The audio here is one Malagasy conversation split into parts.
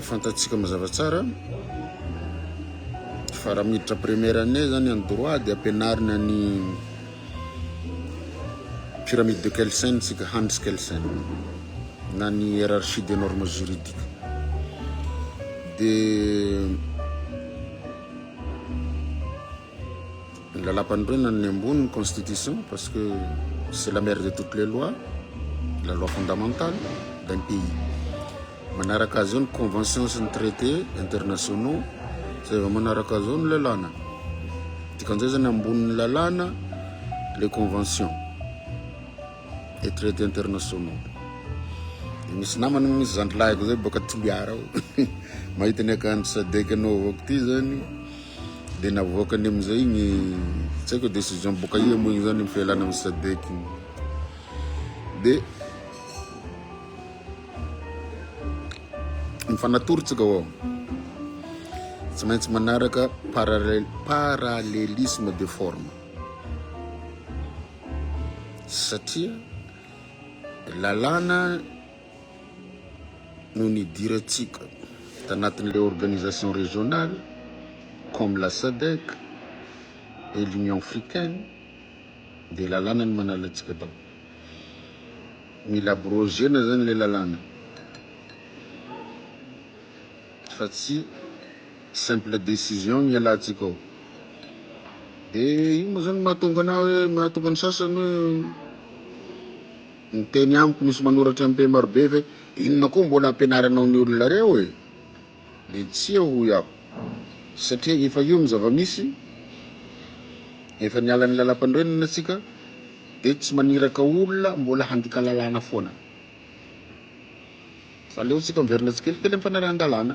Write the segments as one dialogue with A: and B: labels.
A: Fantatsika mazava tsara fa raha miditra première année zany en droit de ampianarina ny pyramide de Kelsen tsika, Hans Kelsen na ny hiérarchie des normes juridiques de Lalampanorenana ny ambony ny constitution parce que c'est la mère de toutes les lois, la loi fondamentale d'un pays. Manaraka azy eo ny convention sy ny traité internationaux zay vao manaraka azy eo ny lalàna. Dikan'izay zany ambonin'ny lalàna les conventions et traités internationaux. Dia misy namana misy zandrilahiko zay baka Toliara ao mahita ny akanjo sadec anaovako ty zany Dia navoakany amin'izay igny, tsy haiko décision boka aia moa igny zany ny fialana amin'ny SADEC igny. Dia mifanatorontsika ao. Tsy maintsy manaraka parallel, parallélisme de forme. Satria lalàna no nidirantsika tanatin'ilay organisation régionale comme la sadec et l'union africaine dia lalàna ny manala antsika tao mila abrogena zany ilay lalàna fa tsy simple décision ny hialantsika ao dia ino moa zany mahatonga anao hoe mahatonga ny sasany hoe Miteny amiko misy manoratra MP marobe ve? Inona koa mbola ampianaranao ny olona reo e? Dia tsia hoy aho. Satria efa io ny zava-misy, efa niala ny lalam-panorenana tsika dia tsy maniraka olona mbola handika lalàna foana. Fa aleo tsika miverina tsikelikely amin'ny fanarahan-dalàna.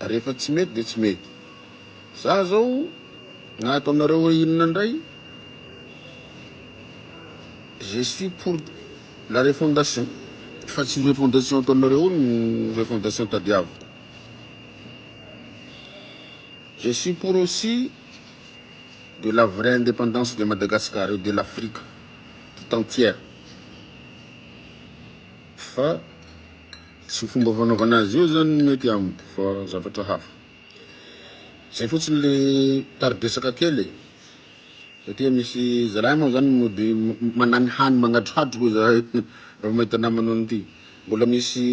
A: Rehefa tsy mety dia tsy mety. Za zao na ataonareo hoe inona ndray je suis pour la refondation fa tsy refondation ataonareo io no refondation tadiaviko. Je suis pour aussi de la vraie indépendance de Madagascar et de l'Afrique tout entière fa Tsy fomba fanaovana azy io zany ny mety amiko fa zavatra hafa. Zay fotsiny le tari-dresaka kely e. Satria misy zalahy moa zany mody managny hany magnadrohadro hoy za raha mahita namana an'ity. Mbola misy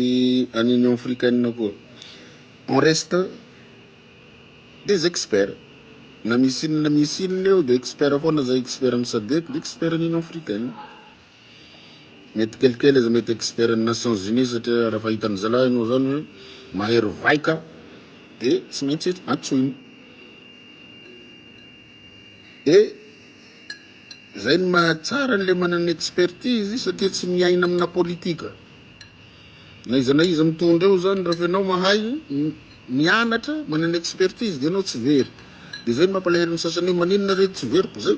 A: any Union Africaine koa. En reste, des experts. Na misy inona na misy inona eo dia expert foana zay, expert an'i Sadec dia expert an'i Union Africaine. Mety kelikely aza mety expert ny nations unies satria raha fa hitan'ny zalahy enao zany hoe mahery vaika de tsy maintsy antsoiny de zay ny mahatsara an'le manana expertise satria tsy miaina amina politika na iza na iza mitondra eo zany raha fa enao mahay mianatra manana expertise de enao tsy very de zay ny mampalahelo ny sasany hoe maninona re tsy very ko zay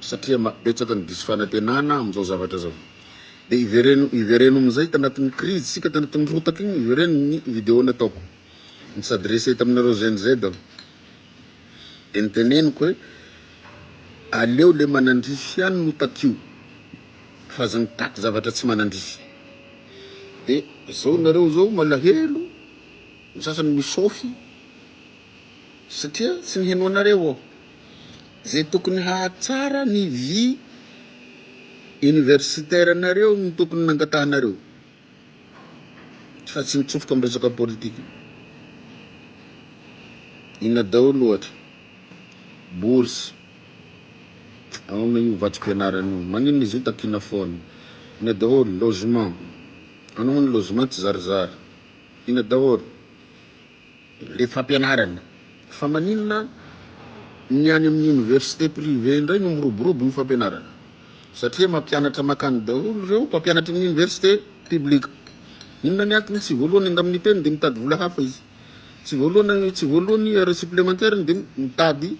A: satria ma betsaka ny diso fanantenana amin'izao zavatra zao de ivereno ivereno amin'izay tanatin'ny crise sika tanatin'ny rotaka iny ivereno ny video nataoko ny s'adresser taminareo gen z aho de ny teneniko hoe aleo le manandrify ihany no takio fa aza mitaky zavatra tsy manandrify de zao nareo zao malahelo ny sasany misôfy satria tsy ny henoanareo ô. Zay tokony hahatsara ny vie universitaire nareo no tokony nangatahanareo fa tsy mitsofoka am resaka politique. Inona daholo ohatra, bourse, aona io vatsim-pianarana io, maninona izy io takiana foana, ina daholo, logement, anao moa ny logement tsy zarizary, ina daholo. le fampianarana fa maninona ny any amin'ny université privé indray no miroborobo ny fampianarana satria mampianatra makany daholo ireo mpampianatra amin'ny université public inona ny antony tsy voalohany angam ny teny dia mitady vola hafa izy tsy voalohany tsy voalohany heure supplémentaire dia mitady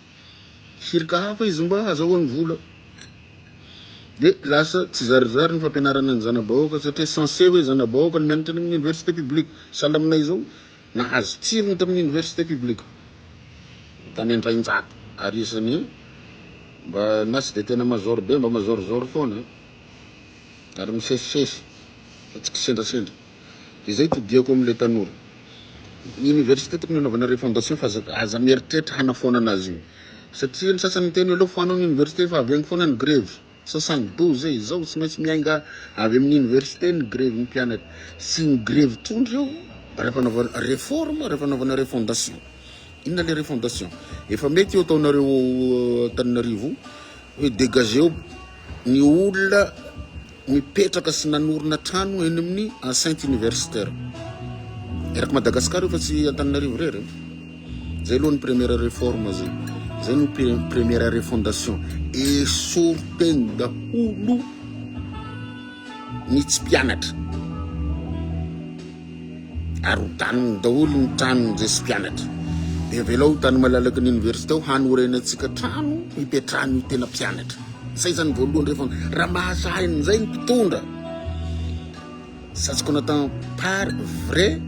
A: cirque hafa izy mba hazahoany vola de lasa tsy zarizary ny fampianarana ny zana-bahoaka satria censé hoe zana-bahoaka ny mianatra any amin'ny université publique, sahala aminay izao nahazo tsirony tamin'ny université publique tany Antrahinjato ary isan'ny mba na tsy dia tena mazaoro be mba mazaorizaory foana ary misesisesy fa tsy kisendrasendra. Dia zay todiako amin'ilay tanora. Ny université tokony hanaovana refondation fa aza aza mieritreritra hanafoanana azy io. Satria ny sasany miteny hoe aleo foano ny université fa avy any foana ny grevy. Sasany doux zay, izao tsy maintsy miainga avy amin'ny université ny grevin'ny mpianatra. Tsy ny grevy tondro io raha fanaovana réforme, raha fanaovana refondation. Inona ilay refondation? Efa mety io ataonareo ao Antananarivo io. Hoe dégageo ny olona mipetraka sy nanorina trano eny amin'ny enceinte universitaire. Eraky Madagascar io fa tsy Antananarivo irery. Zay aloha ny première réforme zay. Zay no première refondation. Esory teny daholo ny tsy mpianatra. ary ho daniny daholo ny tranony izay sy mpianatra. Dia avelao ho tany malalaky ny oniversite ao hanorenantsika trano hipetrahany ho tena mpianatra. Izay izany voalohany rehefa raha mahasahy an'izay ny mpitondra. Ça ce qu'on attend par vraie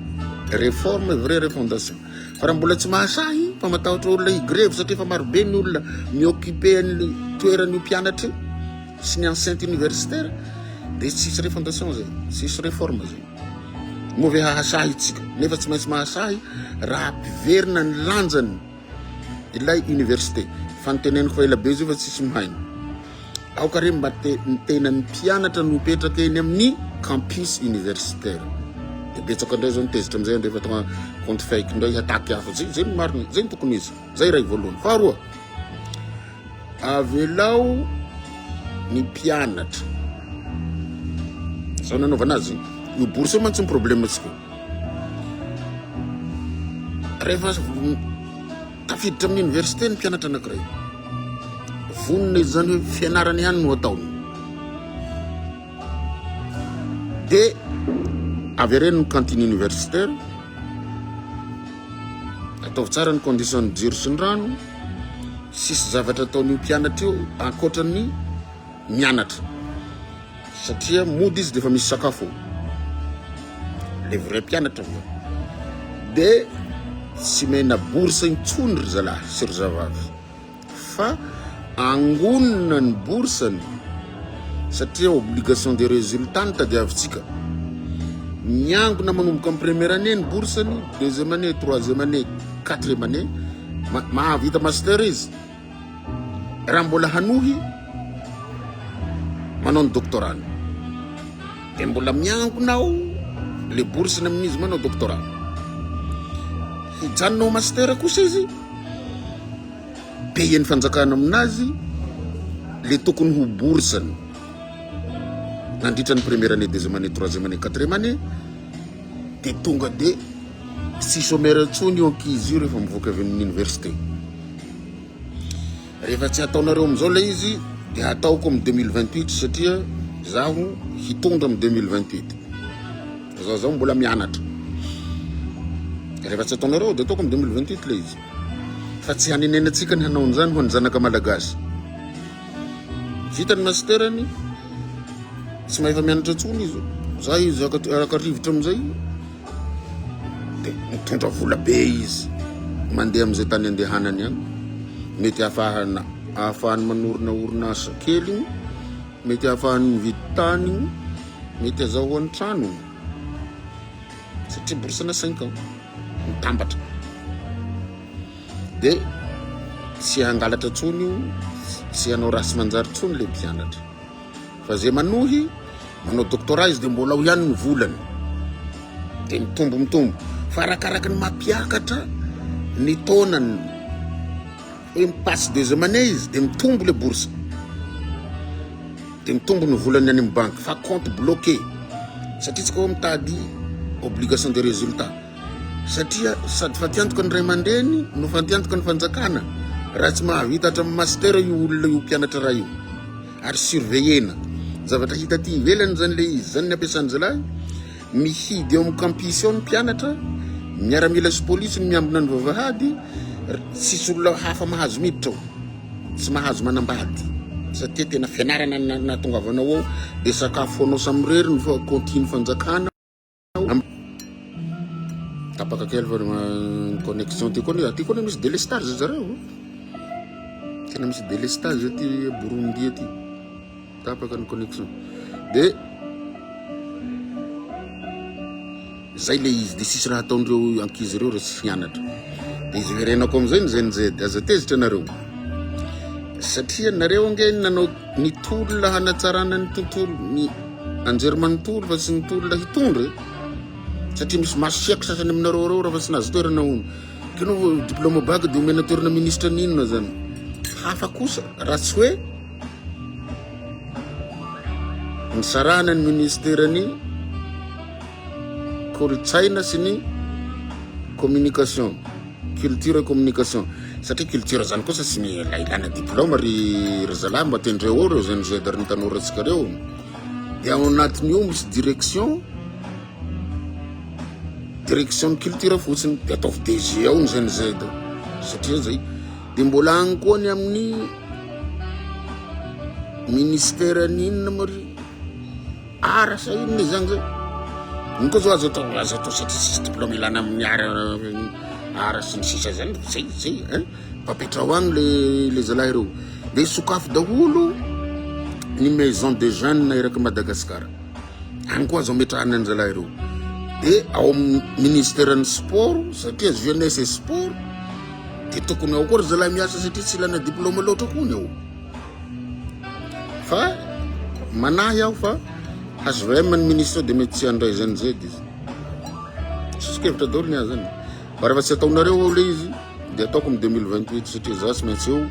A: réforme, vraie refondation. Fa raha mbola tsy mahasahy fa matahotra olona higrevy satria efa marobe ny olona mi-occuper an'ny toeran'io mpianatra io sy ny enceinte universitaire dia tsisy refondation zay, tsisy réforme zay. Moa ve hahasahy isika? Nefa tsy maintsy mahasahy raha ampiverina ny lanjany ilay université. Fa ny teneniko fa ela be zay fa tsisy mihaino. Aoka re mba te ny tenan'ny mpianatra no mipetraka eny amin'ny campus universitaire. Dia betsaka indray zao ny tezitra amin'izay andrefa tonga compte fake indray hataky hafa. Zay zay ny marina, zay ny tokony izy. Zay iray voalohany. Faharoa, avelao ny mpianatra. Zao nanaovana azy iny. Io bourse io mantsy ny problemantsika. Rehefa tafiditra amin'ny université ny mpianatra anankiray. Vonona izany hoe fianarana ihany no ataony. Dia avereno ny cantine universitaire, ataovy tsara ny condition ny jiro sy ny rano, sisy zavatra ataon'io mpianatra io ankoatra ny mianatra satria mody izy dia efa misy sakafo le vrai mpianatra avy eo dia tsy mena bourse intsony ry zalahy sy ry zavavy fa angonina ny boursany satria obligation de resultat no tadiavintsika. Miangona manomboka amin'ny première année ny boursany, deuxième année, troisième année, quatrième année, ma- mahavita master izy. Raha mbola hanohy manao ny doctorat-ny, dia mbola miangona ao le boursany amin'izy manao doctorat. Hijanona ho master kosa izy, Payer ny fanjakana aminazy le tokony ho bourseny nandritra ny première année, deuxième année, troisième année, quatrième année de tonga de tsy chômeur intsony io ankizy io rehefa mivoaka avy amin'ny université. Rehefa tsy ataonareo amin'izao le izy de hataoko amin'ny 2028 satria zaho hitondra amin'ny 2028. Zaho zaho mbola mianatra. Rehefa tsy ataonareo de ataoko amin'ny 2028 le izy. Fa tsy hanenenantsika ny hanao an'izany ho an'ny zanaka malagasy. Vita ny masterany, tsy mahefa mianatra intsony izy. Za izy araka rivotra amin'izay, dia mitondra vola be izy, mandeha amin'izay tany andehanany any. Mety hahafahana ahafahany manorina orinasa kely, mety hahafahany mividy tany, mety azahoany trano. satria borosana cinq ans mitambatra de tsy hangalatra tsony io tsy hanao raha sy manjary tsony le mpianatra fa zay manohy manao doctorat izy de mbola ao ihany ny volany de mitombo mitombo fa arakaraka ny mampiakatra ny taonany Impasse des amane izy de mitombo le bourse de mitombo ny volany any amin'ny banky fa compte bloqué satria tsy kô mitady obligation de résultat satria sady fatiantoka ny ray aman-dreny no fatiantoka ny fanjakana raha tsy mahavita hatramin'ny master io olona io mpianatra raha io ary surveiller-na zavatra hita aty ivelany zany le izy zany ny ampiasan'ny zalahy Mihidy eo amin'ny kampis ao ny mpianatra, miaramila sy polisy no miambina ny vavahady, tsisy olona hafa mahazo miditra ao, tsy mahazo manambady satria tena fianarana no nahatongavanao ao, dia sakafo anao samirery ny kaontin'ny fanjakana. Tapaka kely fa ny connexion ty koa aty koa misy délestage zareo tena misy délestage aty Burundi aty Tapaka ny connexion de zay le izy de sisy raha ataon'ireo ankizy ireo re tsy fianatra de izy verenako amizay ny zen zed aza tezitra nareo satria nareo ange nanao ny tolona hanatsarana ny tontolo ny anjery manontolo fa tsy ny tolona hitondra satria misy masiaky sasany aminareo reo raha fa tsy nahazo toerana ono kino diploma bac de omena toerana ministra n'inona zany hafa kosa raha tsy hoe Nisarahana ny ministeran'ny Kolontsaina sy ny Communication, Culture et Communication. Satria culture zany kosa sy ny la- ilana diplôma ry ry zalahy mba tendreo ao reo zany zedary ny tanorantsika reo. Dia ao anatin'io misy direction direction ny culture fotsiny dia ataovy DG ao ny zany zay da satria zay Dia mbola any koa ny amin'ny ministera ny inona moa ry ara sa inona izany zay ny koa zao azo atao azo atao satria sisy diplôme ilana amin'ny ara ara sy ny sisa zany zay zay hein papetrao agny le le zalahy reo de sokafo daholo ny maison de jeunes eraky Madagascar any koa azo ametrahana ny zalahy reo de ao amin'ny ministeran'ny sport satria jeunesse et sport de tokony ao koa ry zalahy miasa satria tsy ilana diplôme loatra koa ny ao fa manahy aho fa hvm ny ministre de mety tsy handray zany zay de izy soso-kevitra daholo ny ahy zany fa rehefa tsy ataonareo ao le izy de ataoko am 2028 satria za tsy maintsy eo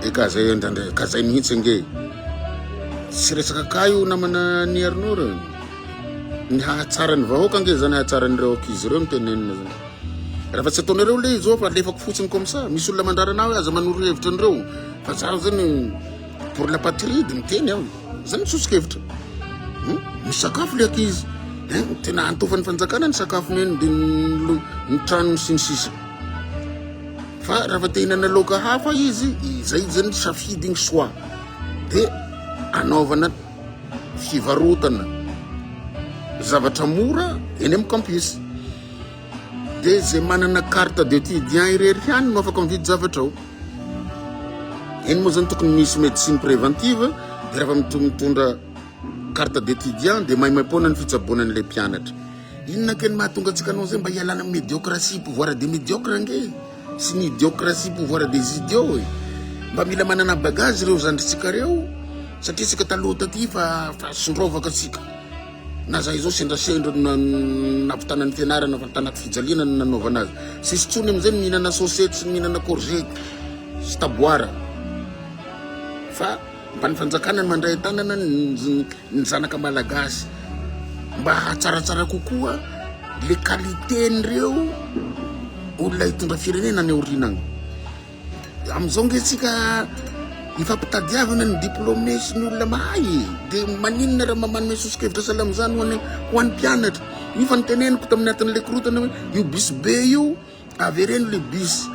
A: E ka zay indraindray ka zay mihitsy ange e. Tsy resaka ka io namana ny Arnaud reo. Ny hahatsaran'ny vahoaka ange zany hahatsaran'ireo ankizy ireo ny tenenina zany. Raha fa tsy ataonareo le izao fa lefako fotsiny comme ça. Misy olona mandrarana hoe aza manoro hevitra an'ireo fa za zany pour la patrie de miteny aho. Zany tsotsikevitra. Hmm? Misakafo le ankizy. Eh, tena antofan'ny fanjakana ny sakafo neny de ny trano sy ny sisa. Fa raha fa te hinana laoka hafa izy, izay zany ny safidiny soit dia anaovana fivarotana zavatra mora eny amin'ny campus. Dia izay manana carte d'étudiant irery ihany no afaka mividy zavatra ao. Eny moa zany tokony misy médecine préventive dia raha fa mitondra Carte d'étudiant dia maimaimpoana ny fitsaboana an'ilay mpianatra. Inona kay ny mahatonga antsika hanao izay mba hialana amin'ny médiocratie pouvoir des médiocres ange sy ny idiocratie pouvoir des idiots e. Mba mila manana bagage ireo zandritsika ireo satria isika taloha taty fa fa sondrovaka antsika. Na za izao sendrasendra na nampitana ny fianarana fa tanaty fijaliana no nanaovana azy. Sisy tsony amin'izay ny mihinana sosety sy ny mihinana courgette sy taboara fa Mba ny fanjakana no mandray an-tanana ny zanaka malagasy mba hatsaratsara kokoa le qualité-n'ireo olona hitondra firenena any aoriana any. Amin'izao nge tsika ifampitadiavana ny diplômé sy ny olona mahay e. Dia maninona raha manome sosokevitra sahala amin'izany ho an'ny mpianatra. Io fa ny teneniko tamin'ny atin'ilay korotana hoe io bus be io Avereno le bus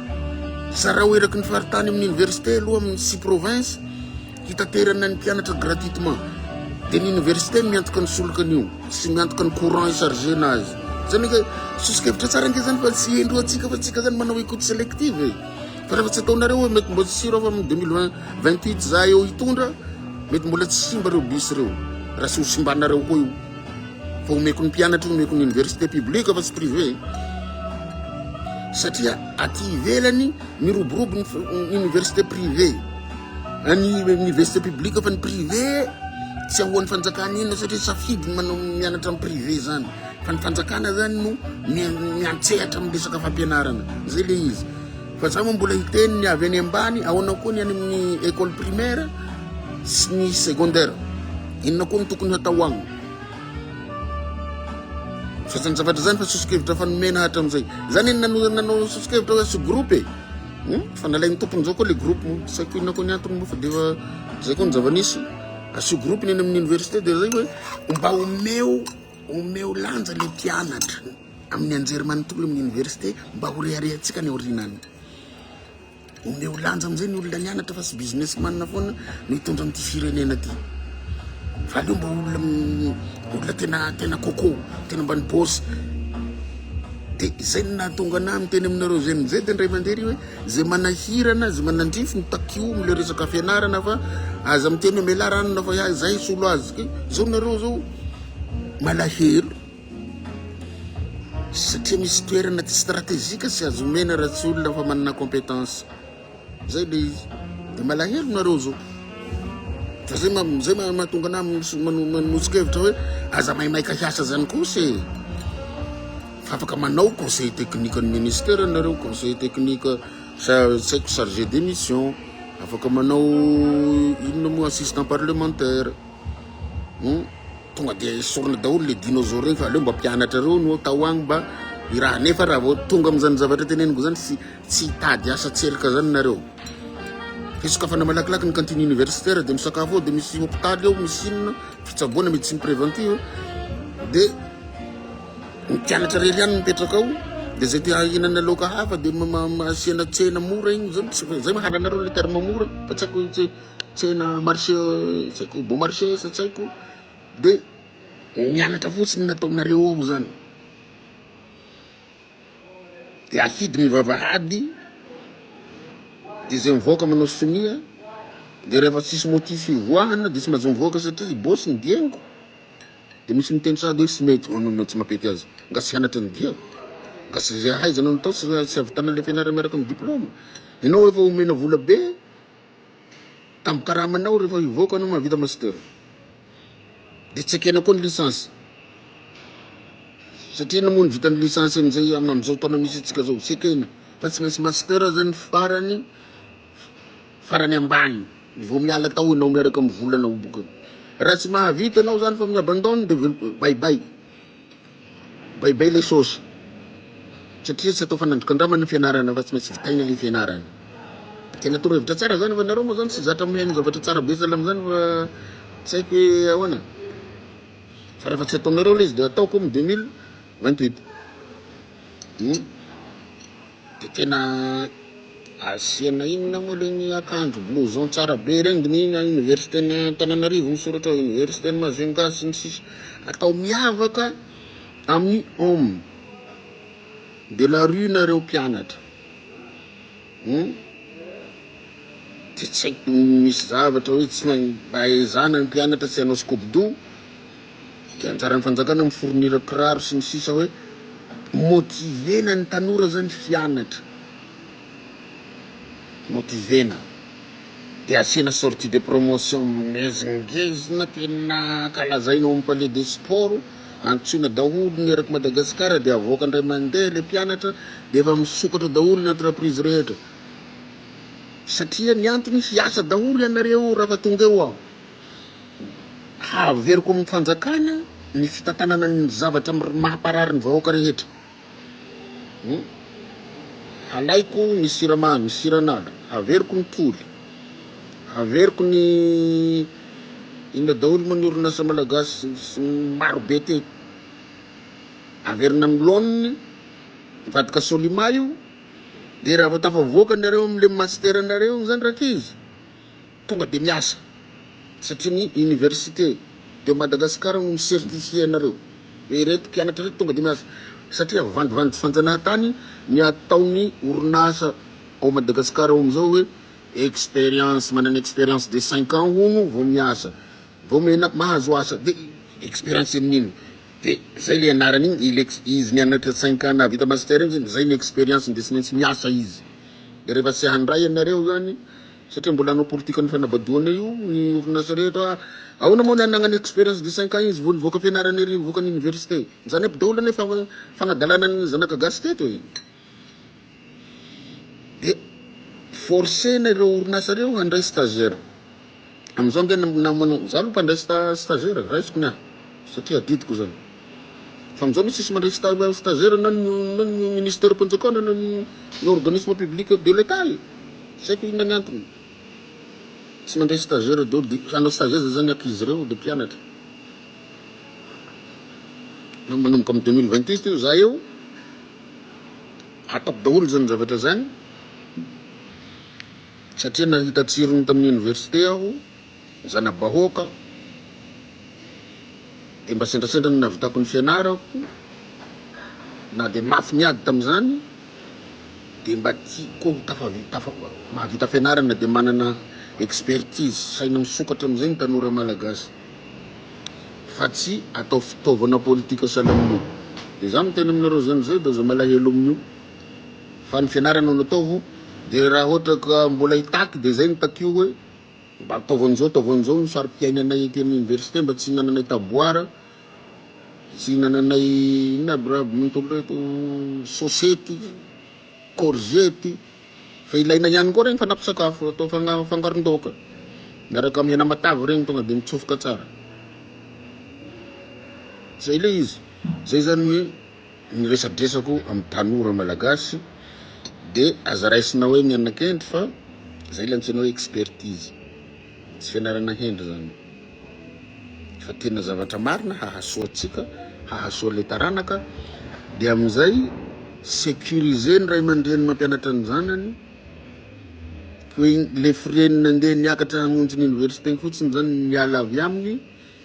A: zarao eraky ny faritany amin'ny université aloha amin'ny sy province hitaterana ny mpianatra gratuitement de ny université miantoka ny solokany io sy miantoka ny courant i chargena azy zany ke soso-kevitra tsara ange zany fa tsy hendro atsika fa tsika zany manao écoute sélective e fa rehefa tsy ataonareo hoe mety mbola tsy rova amin'ny 2028 za eo hitondra mety mbola tsy simba reo bus reo raha sy ho simbanareo koa io Fa omeko ny mpianatra io, omeko ny université publique fa tsy privé e. Satria aty ivelany miroborobo ny université privé. Any université publique fa ny privé tsy ahoan'ny fanjakana inona satria safidy ny manao mianatra amin'ny privé zany. Fa ny fanjakana zany no miantsehatra amin'ny resaka fampianarana. Zay le izy. Fa za moa mbola hiteny ny avy any ambany, ahoana koa ny any amin'ny école primaire sy ny secondaire. Inona koa ny tokony hatao agny? Sasany zavatra izany fa sosokevitra fa nomena hatram'izay. Izany eny nanao nanao sosokevitra hoe sy groupe e. Hmm? Fa nalain'ny tompony zao koa le groupe mo. Tsy haiko inona koa ny antony mo fa dia zay koa ny zava-nisy. Asio groupe ny eny amin'ny université dia zay hoe mba omeo omeo lanja le mpianatra amin'ny anjerimanontolo amin'ny université mba ho reharehantsika ny aorianany. Omeo lanja amizay ny olona nianatra fa tsy business man foana no hitondra an'ity firenena ity fa aleo mba olona olona tena tena coco tena mba ny boss de izay ny nahatonga anah miteny aminareo zay mizay de ndray mandeha ry hoe zay manahirana zay manandrify ny takio amle resaka fianarana fa aza miteny hoe melaranona fa zay solo azy zao nareo zao malahelo Satria misy toerana tsy stratejika tsy azo omena raha tsy olona efa manana compétence. Zay le izy. De malahelo nareo zao. Fa zay ma zay ma mahatonga anah manosikevitra hoe aza maimaika hiasa zany kosa e. Fa afaka manao conseil technique ny ministère nareo, conseil technique sa tsy haiko chargé de mission, afaka manao inona moa assistant parlementaire. Hum tonga dia esorina daholo le dinôzôro regny fa aleo mba mpianatra reo no atao agny mba hiraha nefa raha vao tonga amizany zavatra teneniko zany tsy tsy hitady asa tselika zany nareo fa isokafana malakilaky ny cantine universitaire de misakafo ao de misy hopitaly ao misy inona fitsaboana médecine préventive de ny mpianatra rery ihany mipetraka ao de zay te hahinana laoka hafa de asiana tsena mora igny zany zay mahalanareo le terme mora fa tsy aiko tsena marché tsy haiko bon marché sa tsy haiko de mianatra fotsiny ny ataonareo ao zany de afidy ny vavahady de zay mivoaka manao sonia de rehefa tsisy motif hivoahana de tsy maintsy mivoaka satria i boss ny diaiko de misy miteny sahady hoe tsy mety hoanao na tsy mampety azy nga tsy hianatra ny diako nga tsy zay ahaizanao natao tsy tsy ahavitana le fianarana miaraka amin'ny diploma ianao efa omena vola be Tambo karamanao rehefa hivoaka anao mahavita master de tsy ekena koa ny licence satria na moa ny vitan'ny licence amizay amin'izao taona misy antsika zao tsy ekena fa tsy maintsy master zany farany farany ambany vao miala tao enao miaraka amin'ny volanao boka raha tsy mahavita anao zany fa mi-abandonne de bye bye. Baibai le sôsy satria tsy atao fanandrokan-drambany ny fianarana fa tsy maintsy vitaina le fianarana. Tena toro hevitra tsara zany fa nareo moa zany tsy zatra mihaino zavatra tsara be zala amzany fa tsy haiko hoe ahoana fa refa tsy ataonareo le izy de ataoko am deux mille vingt huit. de tena asiana inona moa le ny akanjo blouson tsara be regny de ny ina université ny Antananarivo misoratra ao université ny Majunga sy ny sisa atao miavaka amin'ny homme de la rue nareo mpianatra hum de tsy haiko misy zavatra hoe tsy mahay mba ezahana ny mpianatra tsy hanao skobodo Dia anjaran'ny fanjakana mi fournir kiraro sy ny sisa hoe motiver-na ny tanora zany hianatra. Motiver-na. Dia asiana sortie de promotion mingezingezina tena kalazaina ao amin'ny palais des sports, antsoina daholo ny erak'i Madagasikara dia avoaka indray mandeha ilay mpianatra dia efa misokatra daholo ny entreprise rehetra. Satria ny antony hiasa daholo ianareo raha fa tonga eo aho. Haveriko amin'ny fanjakana ny fitantanana ny zavatra mahaparary ny vahoaka rehetra. Halaiko ny siramamy, ny siran'ala, haveriko ny toly, haveriko ny inona daholo moa ny orinasa malagasy maro be teo. Averina amin'ny laoniny, mivadika Solima io, dia raha vao tafavoaka nareo amin'ilay master-nareo iny izany rankizy, Tonga dia miasa, satria ny Université de Madagascar no mi-certifier anareo hoe ireto mpianatra ireto tonga dia miasa, satria vandivandy fanjanahantany ny ataon'ny orinasa ao Madagascar ao amin'izao hoe expérience, manana expérience de cinq ans hono vao miasa, vao mena mahazo asa, dia expérience amin'ny inona? dia izay ilay anarany iny, ilay izy nianatra cinq ans nahavita master iny, izay ny expérience-ny dia tsy maintsy miasa izy, dia rehefa tsy handray ianareo izany satria mbola hanao politikan'ny fanabadoana io ny orinasa rehetra Ahoana moa ny an'ny nagnana expérience de cinq ans izy vao nivoaka fianarana ery nivoaka ny université Izany aby daholo anie fa fanadalana ny zanaka gasy teto e Dia forcer-na ireo orinasa ireo handray stagiaire Amin'izao nge na manao, za aloha mpandray stagiaire, raisiko ny ahy satria adidiko izany. Fa amin'izao aloha tsisy mandray sta stagiaire na ny na ny ministeram-panjakana na ny ny organisme public de l'Etat e! Tsy haiko inona ny antony tsy mandray stagiaire daholo dia hanao stage aiza izany ankizy ireo dia mpianatra. Na manomboka amin'ny deux mille vingt et un eo za eo hatako daholo izany zavatra izany satria nahita tsirony tamin'ny université aho. zana-bahoaka dia mba sendrasendra no nahavitako ny fianarako na dia mafy ny ady tamin'izany dia mba tiako mahavita fianarana dia manana expertise saina misokatra amin'izay ny tanora malagasy fa tsy atao fitaovana politika sahala amin'io dia za miteny aminareo zany zay dia aza malahelo amin'io fa ny fianarana no ataovy dia raha ohatra ka mbola hitaky dia zay ny takio hoe Mba taovan'izao taovan'izao ny sari-piainanay ety amin'ny oniversite mba tsy hinananay taboara, tsy hinananay inona aby raha minontolo ireto, sosety, kôrzety, fa ilaina ihany koa ireny fanampin-tsakafo atao fangaron-daoka miaraka amin'ny hena matavy ireny tonga dia mitsofoka tsara. Izay ilay izy, izay izany hoe. ny resadresako amin'ny tanora malagasy de aza raisina hoe mianakendry fa zay ilay antsoina hoe expertise tsy fianarana hendry zany fa tena zavatra marina hahasoa antsika hahasoa le taranaka de amin'izay sécuriser ny ray aman-dreny mampianatra ny zanany hoe le frais-ny nandeha niakatra hamonjy ny université fotsiny zany miala avy aminy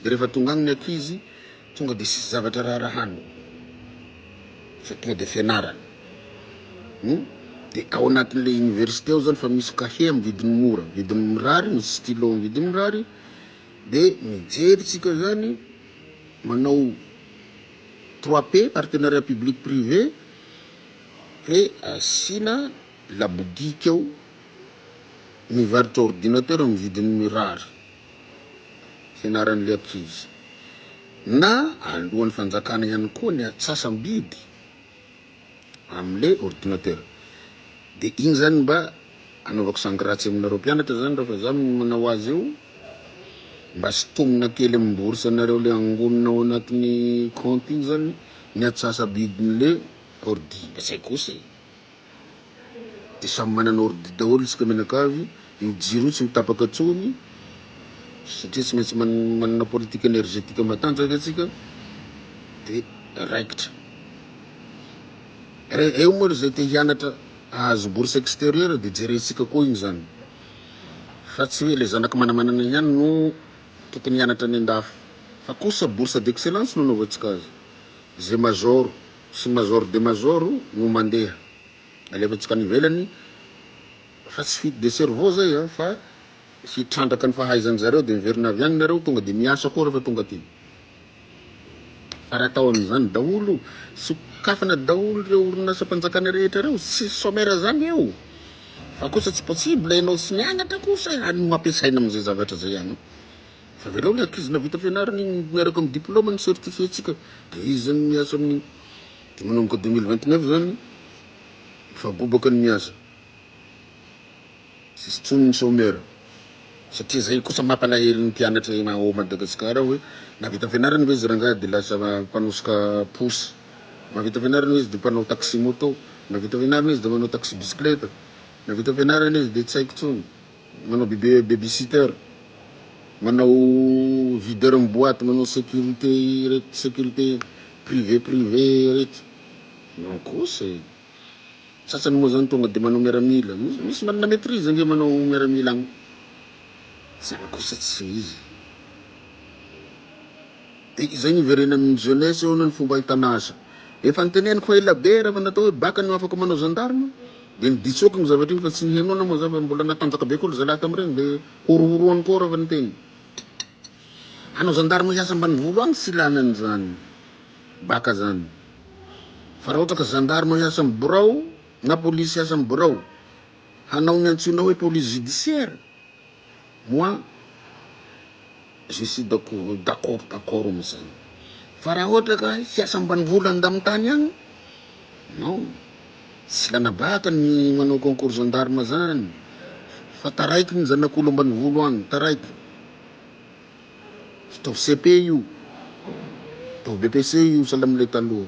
A: de rehefa tonga agny ny ankizy Tonga dia tsisy zavatra raharahanao fa tonga dia fianarana hum dia ao anatin'ilay université ao zany fa misy cahier amin'ny vidiny mora vidiny mirary misy stylo amin'ny vidiny mirary dia mijery tsika zany manao trois p partenariat public privé hoe asiana labodika ao mivarotra ordinateur amin'ny vidiny mirary hianaran'ilay ankizy, na alohan'ny fanjakana ihany koa ny antsasam-bidy amin'ilay ordinateur. Dia iny zany mba anaovako sangratsy aminareo mpianatra zany raha fa za no manao azy io, mba sintomina kely amin'ny bourse anareo le angonina ao anatin'ny compte iny zany ny antsasa-bidin'le ordi, mba tsy hay kosa e. de samy manana ordi daholo isika mianakavy, io jiro io tsy mitapaka tsony satria tsy maintsy manana politique energetique matanjaka tsika de raikitra re eo moa ry zay te hianatra ahazo bourse exterieur de jerentsika koa iny zany fa tsy hoe le zanaky manamanana ihany no tokony hianatra any andafy fa kosa bourse d'excellence no anaovantsika azy ze major sy Major de Major no mandeha alefantsika any ivelany fa tsy fuite de cerveau zay an fa hitrandraka ny fahaizan zareo de miverina avy any nareo tonga de miasa koa refa tonga aty fa raha atao amizany daholo sokafana daholo reo orinasa mpanjakana rehetra reo tsisy chomera zany eo fa kosa tsy possible enao tsy nianatra kosa any no ampiasaina amizay zavatra zay any. Averao ny ankizy navita fianarana iny miaraka amin'ny diplôme ny certifié tsika de izy zany miasa amin'ny de manomboka deux mille vingt neuf zany efa bobaka ny miasa tsisy tsony ny chômeur satria zay kosa mampalahelo ny mpianatra eny ao Madagascar ao hoe navita fianarana ve izy rangahy de lasa mpanosika posy, mavita fianarana ve izy de mpanao taxi moto, navita fianarana izy de manao taxi bicyclette, navita fianarana izy de tsy haiko tsony. manao babysitter, manao videur ny boite, manao sécurité ireto sécurité privé privé ireto, non kosa e, sasany moa zany tonga de manao miaramila, misy manana maitrise ange manao miaramila agny, zany kosa tsy izy, de izay ny hiverenan'ny jeunesse eo anie ny fomba ahitana asa, efa noteneniko fa elabe raha vao natao hoe bacc no afaka manao gendarme. Dia nibitsoky ny zavatra iny fa tsy ny henoina moa izany fa mbola natanjaka be koa ry zalahy tamin'ireny dia horohoroany koa raha vao niteny. Hanao zandarima hiasa ambanivolo any tsy lany an'izany baka izany fa raha ohatra ka zandarima hiasa amin'ny birao na polisy hiasa amin'ny birao hanao ny antsoinao hoe police judiciaire Moi je suis d'accord d'accord d'accord amzany fa raha ohatra ka hiasa ambanivolo any ndamitany any non tsy lanabahaka ny manao concours gendarme zany fa taraiky ny zanak'olo ambanivolo any taraiky ataovy CEP io ataovy BEPC io sahala amle taloha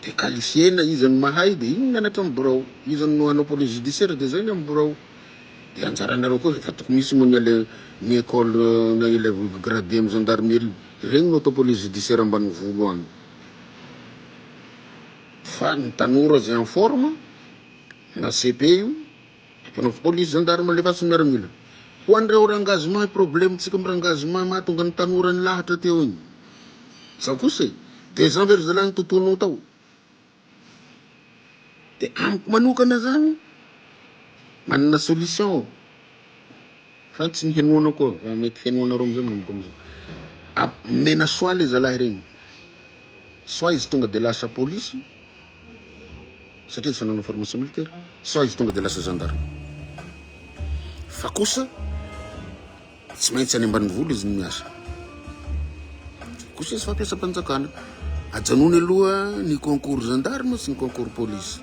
A: de qualifiena izy no mahay de iny mianatra am birao izy no hanao police judiciaire de zay ny am birao. Dia anjaranareo koa efa tokony hisy moa ny ale ny école na élève gradé am gendarmerie regny no atao police judiciaire ambanivolo any fa ny tanora zay en forme na cepe io ataonao police gendarme alefaso miaramila ho anreo rangah zoma problème tsika am rangah zoma mahatonga ny tanora nilahatra teo igny zao kosa e de zan ve ry zalahy ny tontolonao tao. De amiko manokana zany manana solution fa tsy ny henoana koa fa mety henoanareo amizay manomboka amizao omena soit le zalahy regny soit izy tonga de lasa polisy satria efa nanao formation militaire soit izy tonga de lasa gendarme fa kosa Tsy maintsy any ambanivolo izy no miasa. Koseso fampiasam-panjakana. Ajanony aloha ny concours gendarme sy ny concours police.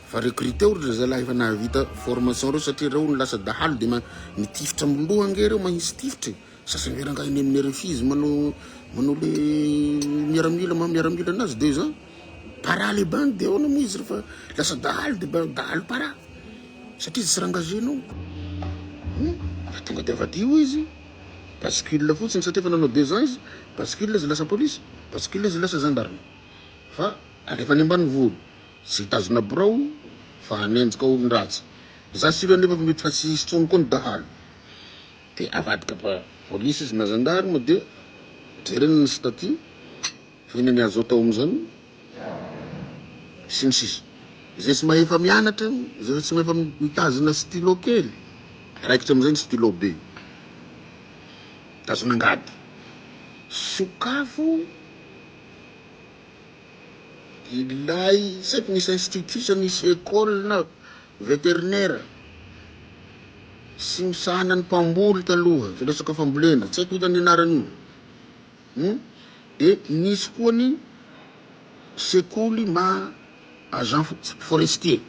A: Fa recruteo ry zalahy efa nahavita formation reo satria reo no lasa dahalo de mitifitra amin'ny loha ange reo mahisy tifitra e. Sasany ve rangahy eny amin'ny RFI izy manao manao le miaramila maha miaramila anazy deux ans. Para le bandy de ahoana moa izy refa lasa dahalo de dahalo para. satria tsy rangage nao fa tonga de avadio izy bascule fotsiny satria efa nanao deux ans izy bascule izy lasa police bascule izy lasa gendarme fa alefa any ambanivolo tsy hitazona birao fa hanenjika olon-dratsy za sur anefa fa mety fa tsy hisy tsony koa ny dahalo de avadika police izy na gendarme de jerena ny statut Inona ny azo atao amin'izany? sy ny sisa Izay tsy mahefa mianatra, izay tsy mahefa mitazona stylo kely, raikitra amin'izay ny stylo be, tazona angady, sokafo ilay tsy haiko misy institut sa misy école na vétérinaire sy misahana ny mpamboly taloha, ilay sokafam-bolena, tsy haiko inona ny anaran'io. Humm dia nisy koa ny sekoly maha agent forestier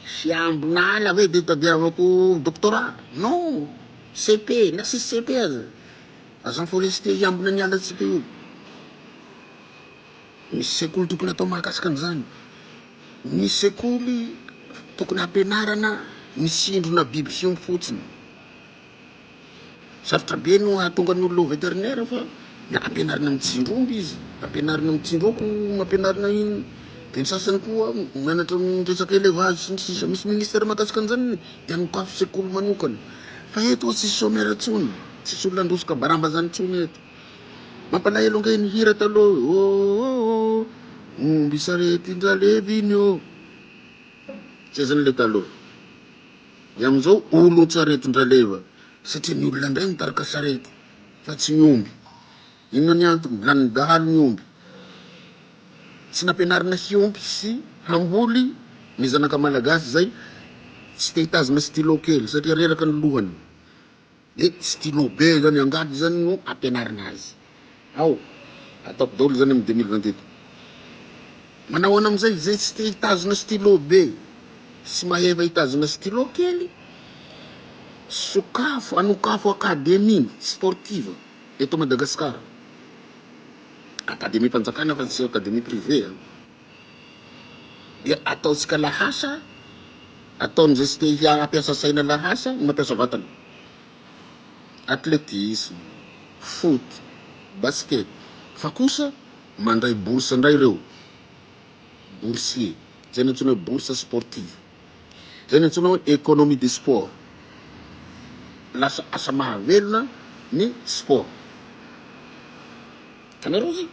A: fiambin'ala ve dia tadiavako doctorat non CEP na tsisy CEP aza agent forestier hiambina ny alantsika io misy sekoly tokony atao mahakasika an'izany ny sekoly tokony hampianarana ny sindrona biby fiompy fotsiny. Sarotra be no hahatonga ny olona ho vétérinaire fa ampianarina mijinja omby izy, ampianarina mijinja akoho, ampianarina inona, dia ny sasany koa mianatra ny resaka élevage sy ny sisa misy ministère mahakasika an'izany ny dia nokafy sekoly manokana fa eto oa tsisy chômeur intsony, tsisy olona handroso kabaramba zany intsony eto. Mampalahelo ange ny hira taloha hoe ôôô Dia amin'izao olon-tsaretin-dRaleva, satria ny olona indray mitarika sarety fa tsy ny omby. Inona ny antony? Lanin'ny dahalo ny omby. Tsy nampianarina hiompy sy hamboly ny zanaka malagasy izay tsy te hitazona stylo kely satria reraka ny lohany. Dia stylo be izany angady izany no ampianarina azy ao, ataoko daholo izany amin'ny deux mille vingt et un. Manao ahoana amin'izay izay tsy te hitazona stylo be sy maheva hitazona stylo kely? Sokafo, anokafo akademia sportive eto Madagasikara, akademiam-panjakana fa tsy akademia privé a! dia ataontsika lahasa, ataon'izay tsy te hampiasa saina lahasa ny mampiasa vatana. Atletisme, foot, basket, fa kosa mandray bourse indray ireo boursier, izay nantsoina hoe bourse sportive, izay nantsoina hoe economie du sport, lasa asa mahavelona ny sport. Hitanareo zay?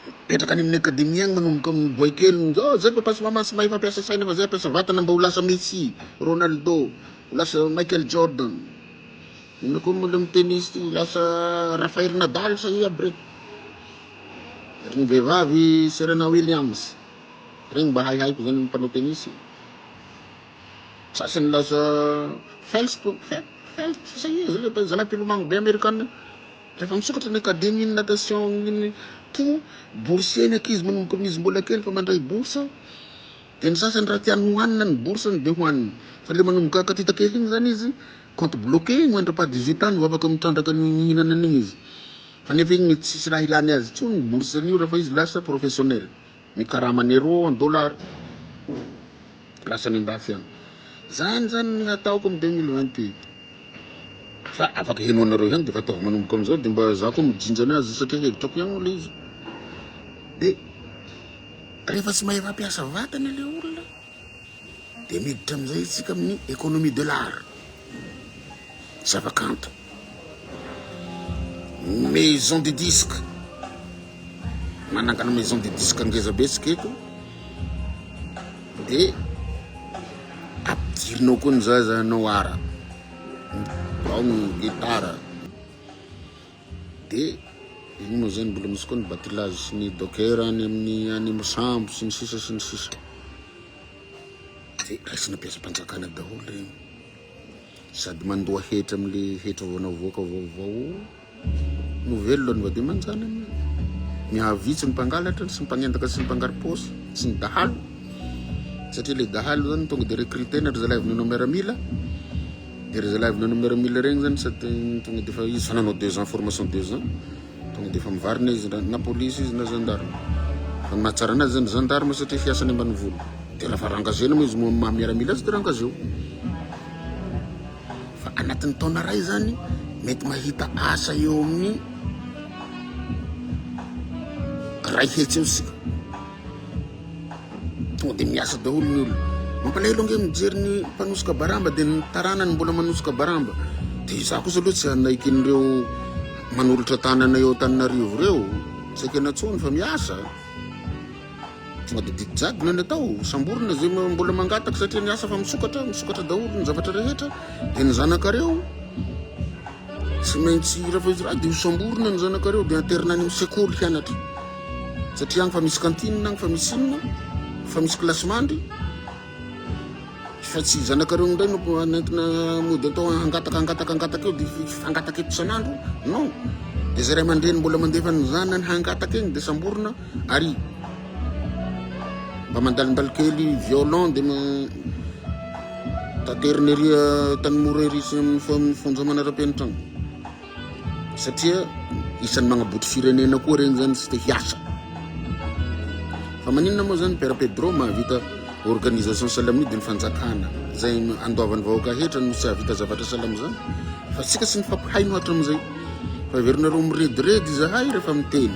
A: Mipetraka any amin'ny akademia agny manomboka amin'ny boaikely zao zay papa sy maman tsy mahay mampiasa saina fa zay ampiasa vatana mba ho lasa Messi, Ronaldo, ho lasa Michael Jordan. Inona koa moa le amin'ny tennis ty ho lasa Rafael Nadal sa i aby reny. Ry ny vehivavy Serena Williams, regny mba haihaiko zany ny mpanao tennis. Sasy nilaza Felps to Felps sisa izy le mpanj zanampilomano be amerikana io refa misokatra ny academy ny natation ny to boursier ny ankizy manomboka amiz mbola kely fa mandray bourse de ny sasany raha tiany ho hanina ny bourse ny de ho haniny fa le manomboka katita kely iny zany izy compte bloqué mandra pa dix huit ans no afaka mitrandraka ny mihinana an'igny izy fa nefa igny tsisy raha ilany azy tsony bourse an'io refa izy lasa professionnel. Ny karaman'ny euro en dollars lasa any andafy any. Zany zany ny hataoko amin'ny deux mille vingt et un fa afaka henoanareo ihany de efa ataovy manomboka amin'izao de mba za koa mijinja ny azy satria hevitrako ihany moa le izy de rehefa tsy mahay mampiasa vatana le olona. Dia miditra amin'izay isika amin'ny économie de l'art, zavakanto, maison de disque, manangana maison de disque ngeza be isika eto, dia ampidirinao koa ny zaza hanao art, ao ny guitare. Dia iny moa zay ny mbola misy koa ny batilazy sy ny docker any amin'ny any amin'ny sambo sy ny sisa sy ny sisa dia raisina mpiasam-panjakana daholo regny sady mandoa hetra amin'le hetra vao navoaka vaovao no velona ny vady aman-janany mihavitsy ny mpangalatra sy ny mpanendaka sy ny mpangaripôsy sy ny dahalo satria le dahalo zany tonga dia recruter-na ry zalahy avy nanao miaramila De re zalahy avy nanao miaramila regny zany sa tonga de fa izy fa nanao deux ans formation deux ans tonga de fa mivarina izy na police izy na gendarme fa ny mahatsara anazy zany gendarme satria fiasany ambanivolo de raha fa rangazena moa izy moa maha miaramila azy de rangazeo fa anatin'ny taona ray zany mety mahita asa eo amin'ny ray hetsy eo sika Tonga dia miasa daholo ny olona. Mampalahelo ange mijery ny mpanosoka baramba dia ny taranany mbola manosoka baramba. Dia izaho kosa aloha tsy hanaiky an'ireo manolotra tanana eo Antananarivo ireo. Tsy ekena intsony fa miasa. Tonga dia didy jadona ny atao. Samborina izay mbola mangataka satria ny hafa fa misokatra, misokatra daholo ny zavatra rehetra. Dia ny zanakareo Tsy maintsy rafetra dia hosamborina ny zanakareo dia interna any amin'ny sekoly hianatra. Satria agny fa misy cantine, agny fa misy inona, fa misy kilasy mandry. Fa tsy zanakareo indray no nentina mody atao hangataka hangataka hangataka eo dia hangataka eto isan'andro. Non. Dia zay ray aman-dreny mbola mandefa ny zanany hangataka egny dia samborina. Ary mba mandalimbaly kely violon de taterina ery tanimora ery sy amin'ny fonja manara-penitra any satria isan'ny magnaboto firenena koa regny zany sy te hiasa fa maninona moa zany père Pedro mahavita organisation salamia de ny fanjakana zay andoavan'ny vahoaka hetra no tsy ahavita zavatra salama zany fa tsika sy ny fampahaino hatram'izay fa averinareo mirediredy zahay rehefa miteny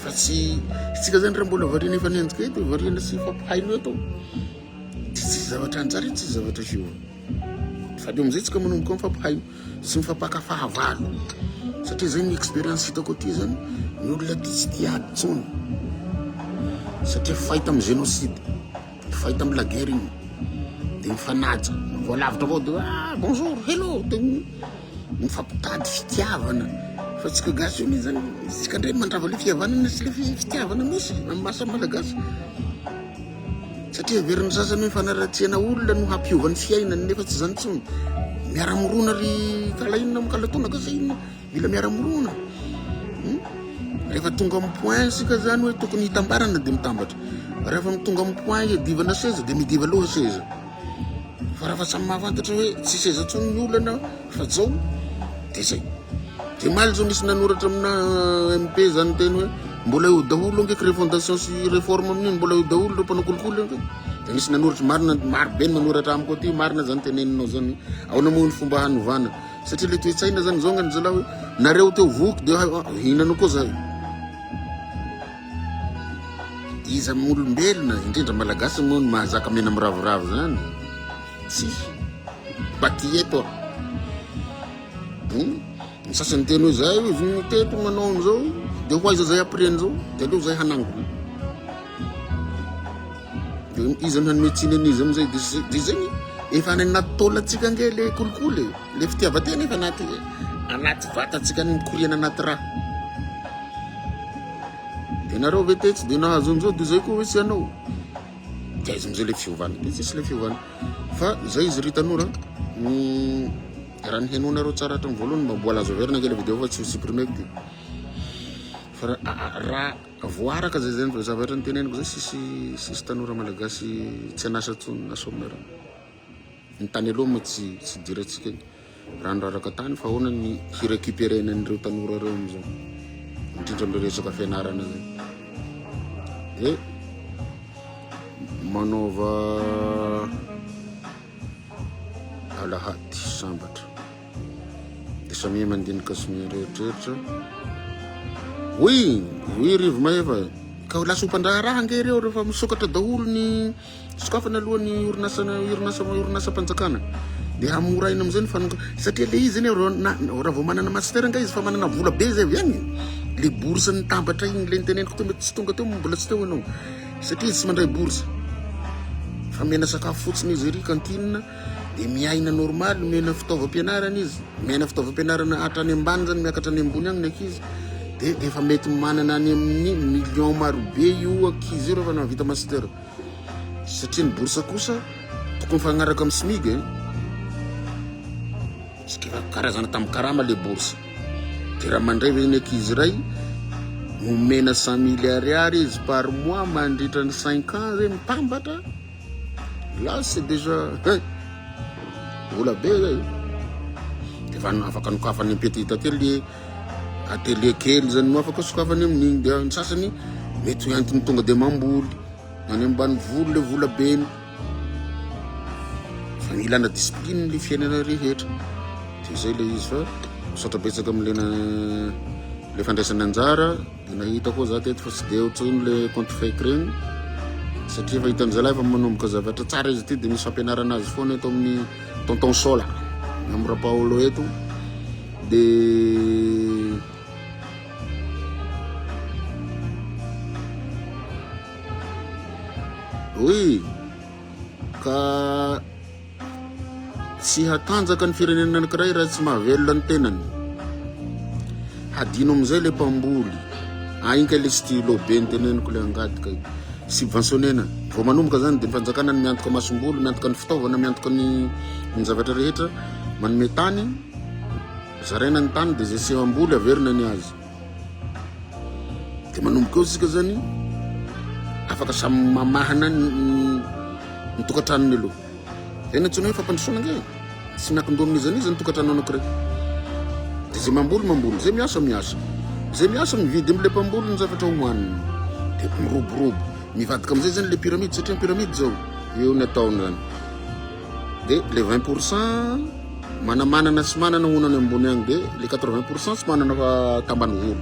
A: fa tsy itsika zany raha mbola variana efa nenjika eto variana sy fampahaino eto dia tsisy zavatra anjara etsy zavatra fio fa de amizay tsika manomboka ny fampahaino sy ny fampaka fahavalo satria zay ny expérience hitako aty zany ny olona ty tsy tia ady tsony satria fahita amin'ny génocide fahita amin'ny laguerre iny de mifanaja voalavitra avao de ah bonjour hello de Mifampitady fitiavana fa tsika gasy io zany tsika ndray mandrava le fihavanana sy le fitiavana misy amin'ny maha samy malagasy satria heverin'ny sasany hoe fanaratsiana olona no hampiova ny fiainany nefa tsy zany tsony miara-mirona ry kala inona am kala tonaka sa inona mila miara-mirona hmm? rehefa tonga amin'ny point sika zany hoe tokony hitambarana de mitambatra rehefa mitonga amin'ny point hiadivana seza de midiva loha seza Fa raha fa samy mahafantatra hoe tsisy aiza intsony ny olana fa zao de zay. De maly zao nisy nanoratra amina MP zany teny hoe mbola eo daholo ange que refondation sy réforme amin'iny mbola eo daholo ireo mpanao kolikoly ange. De nisy nanoratra marina maro be manoratra amiko aty marina zany teneninao zany. Ahoana moa ny fomba hanovana? Satria le toe-tsaina zany zao ngany zalahy hoe nareo teo voky de hinana koa zay. Iza moa olombelona, indrindra Malagasy moa no mahazaka mena miravoravo zany? Tsy. Batieto aho. Hmm? Ny sasany teny hoe zay izy no teto manao an'izao, dia ho aiza zay après an'izao? Dia aleo zay hanangona. Dia iza no hanome tsiny an'izy am'izay? Dia zay ny efa any anaty taolantsika nge le kolikoly, le fitiavan-tena efa anaty anaty vatantsika ny mikoriana anaty rà. Ianareo ve tetsy dia nahazoan'izao dia izay koa hoe tsy hanao. Dia aiza amin'izay ilay fiovana? Dia tsisy ilay fiovana. Fa izay izy ry tanora raha ny henoanareo tsara hatramin'ny voalohany mba mbola azo averina kely video fa tsy ho supprimeko ty. Fa raha voaraka izay izay ny zavatra niteneniko izay sisy sisy tanora malagasy tsy an'asa intsony na sômera. Ny tany aloha moa tsy tsy idirantsika iny. Raha ny raraka tany fa ahoana ny hi-recuperer-na an'ireo tanora ireo amin'izao? Indrindra amin'ireo resaka fianarana izay. Dia manaova alahady sambatra. Dia samia mandinika sy mieritreritra. Hoy, hoy Rivo Mahefa, ka ho lasa mpandraharaha ange ireo rehefa misokatra daholo ny sokafana aloha ny orinasa orinasa orinasam-panjakana. Dia hamoraina amin'izay ny fanonga satria le izy anie raha vao manana master nga izy fa manana vola be zay avy any. Le bourse ny tambatra igny le niteneniko teo mety tsy tonga teo mbola tsy teo ianao satria izy tsy mandray bourse. Fa mena sakafo fotsiny izy ery kantinina. Dia miaina normal, omena fitaovam-pianarana izy, miaina fitaovam-pianarana hatrany ambany zany miakatra any ambony agny ny ankizy. Dia efa mety manana any amin'ny million marobe io ankizy io rehefa nahavita master. Satria ny bourse kosa tokony mifagnaraka amin'ny SMIG eh. Satria karazana tamin'ny karama le bourse. Dia raha mandray ve ny ankizy iray omena cent mille ariary izy par mois mandritra ny cinq ans zay mitambatra? Là c'est déjà hein! Vola be zay! Efa afaka nokafany am petit atelier, atelier kely zany no afaka sokafany amin'igny dia ny sasany mety ho entiny tonga dia mamboly any ambanivolo le vola beny. Fa ny ilana discipline le fiainana rehetra. Dia zay le izy fa misaotra betsaka am'le na- le fandraisana anjara. Dia nahita koa za teto fa tsy dia ohatry iny le compte fake regny satria efa hitan'ny zalahy efa manomboka zavatra tsara izy ity dia misy fampianarana azy foana eto amin'ny tonton sola na amin'ny rapaolo eto dia oui ka Tsy hatanjaka ny firenena anankiray raha tsy mahavelona ny tenany. Hadino amin'izay le mpamboly. Ainka le stylo be ny teneniko le angadika io. Subventionnena. Vao manomboka zany dia ny fanjakana ny miantoka masombolo, miantoka ny fitaovana, miantoka ny ny zavatra rehetra, manome tany, zaraina ny tany dia zay tsy hamboly averina ny azy. De manomboka eo tsika zany afaka samy mamahana ny ny tokantranony aloha zay ny antsoina hoe fampandrosoana ange tsy miankin-doha amin'iza n'iza ny tokantrano anankiray de zay mamboly mamboly zay miasa miasa zay miasa mividy am'le mpamboly ny zavatra hohaniny de miroborobo mivadika am'izay zany le pyramide satria ny pyramide zao eo ny ataony zany Dia le 20 pour cent manamanana sy manana hono any ambony agny dia le 80 pour cent tsy manana fa tambanivolo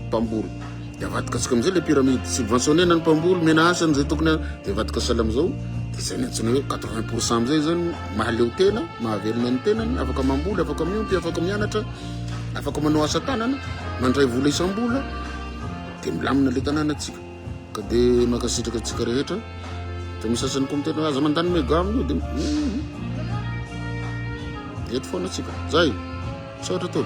A: mpamboly dia avadikatsika amizay le pyramide subventionné na ny mpamboly mena asa an'izay tokony a dia avadika sala amizao dia zay ny antsoina hoe 80 pour cent amizay zany mahaleo tena mahavelona ny tenany afaka mamboly afaka miompy afaka mianatra afaka manao asa tanana mandray vola isam-bola dia milamina le tanàna atsika ka de mankasitraka antsika rehetra de misy sasany koa miteny hoe aza mandany mega amin'io de eto foana atsika zay misaotra tompoko